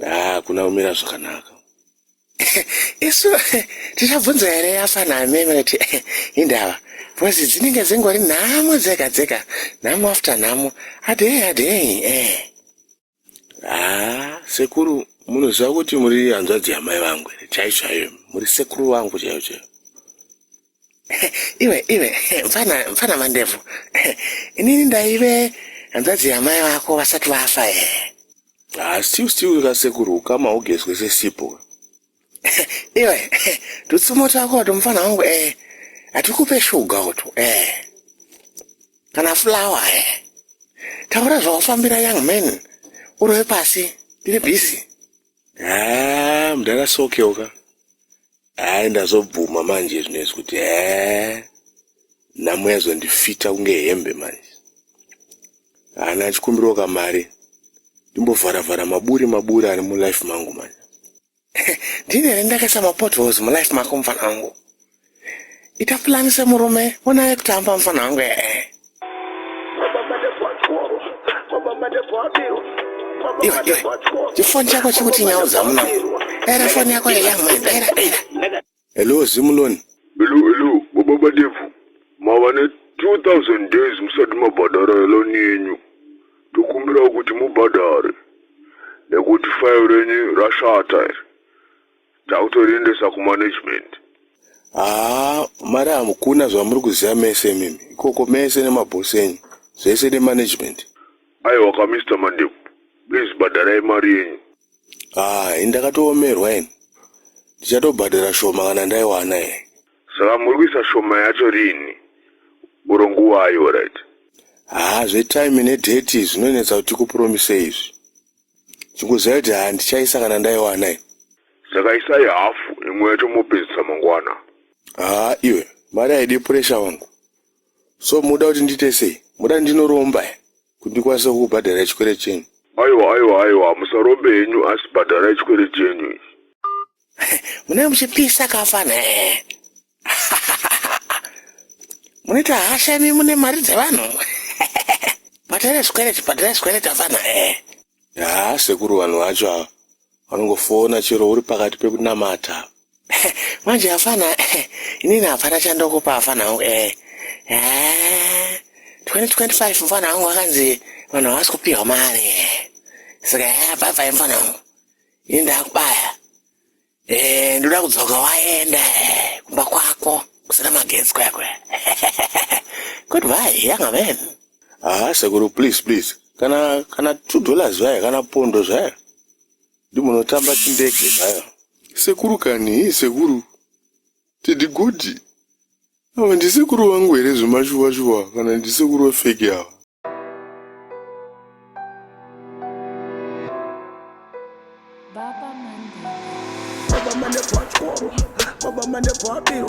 haa ah, kuna kumira zvakanaka isu tichabvunza here yafana ameme kuti indava bcause dzinenge dzingori nhamo dzega dzega nhamo after nhamo adei adei eh haa ah, sekuru munoziva kuti muri hanzvadzi yamai vangu chaicho chaiyo muri sekuru vangu chaiyo chaiyo iwe iwe mfana mfana mandebvu inini ndaive hanzvadzi yamai vako vasati vafa e asi ah, usiu kasekuru ukama ugezwe sesipo iwe tutsumo twako to mfana wangu e eh, hatikupe shuga utu e eh. kana fulawa e eh. taura zvawafambira young man urove pasi tiri bhisi haa mdara sokewo ka haa ndazobvuma manje zvinezvi kuti haa nhamo yazondifita kunge hembe manje hana achikumbirawo kamari ndimbovhara vhara maburi maburi ari mulife mangu manje ndini here ndakaisa mapotholes mulife mako mfanangu ita plan semurume ona yekutamba mufana wangu ee iwe iwe chifoni chako chikuti nyau dzamuna era foni yako yeyamwe era era hello zimuloni hello hello baba devu mava ne 2000 days musati mabhadhara heloni yenyu ndokumbirawo kuti mubhadhare nekuti fayo renyu rashata iri Tautoriendesa kumanagement. Haa mari hamkuna zvamuri kuziva mese imimi ikoko mese nemaboss enyu zvese nemanagement. Aiwa ka Mister Mandevu please bhadharai mari yenyu. Haa ini ndakatoomerwa ini ndichatobhadhara shoma kana ndaiwana here. Saka muri kuisa shoma yacho rinhi or nguvai horyt. Haa zvetime nedate zvinonetsa kuti tikupromisei izvi. Chikuziva kuti handichaisa kana ndaiwana ini. Saka isai hafu imwe yacho mopedzisa mangwana. Haa iwe mari haidi pressure wangu. So muda kuti ndiite sei? Muda ndinoromba here kuti ndikwanise kukubhadharai chikwere chenyu? Aiwa aiwa aiwa musarombe henyu asi bhadharai chikwere chenyu ichi. Munenge muchipisa kafana eh. Munoita hasha imi mune mari dzevanhu. Bhadhara zvikwereti, bhadhara zvikwereti afana eh. Haa sekuru vanhu vacho ava vanongofona chero uri pakati pekunamata. Manje hapana eh, inini hapana chandokupa hapana hangu eh. Eh, 2025 mfana wangu akanzi vanhu havasi kupihwa mari eh. Saka eh, bye bye mfana wangu. ini ndakubaya eh, ndoda kudzoka waenda eh, kumba kwako kusina magetsi kwako kuti vai yanga veni haa ah, sekuru please please kana kana two dollars zvaya kana pondo zvaya ndimunotamba chindege zvaya sekuru kani sekuru Teddy Kuti ava ndisekuru vangu here zvemashuva shuva kana ndisekuru vefeki ava Baba mane bwachkoro, baba mane bwabiro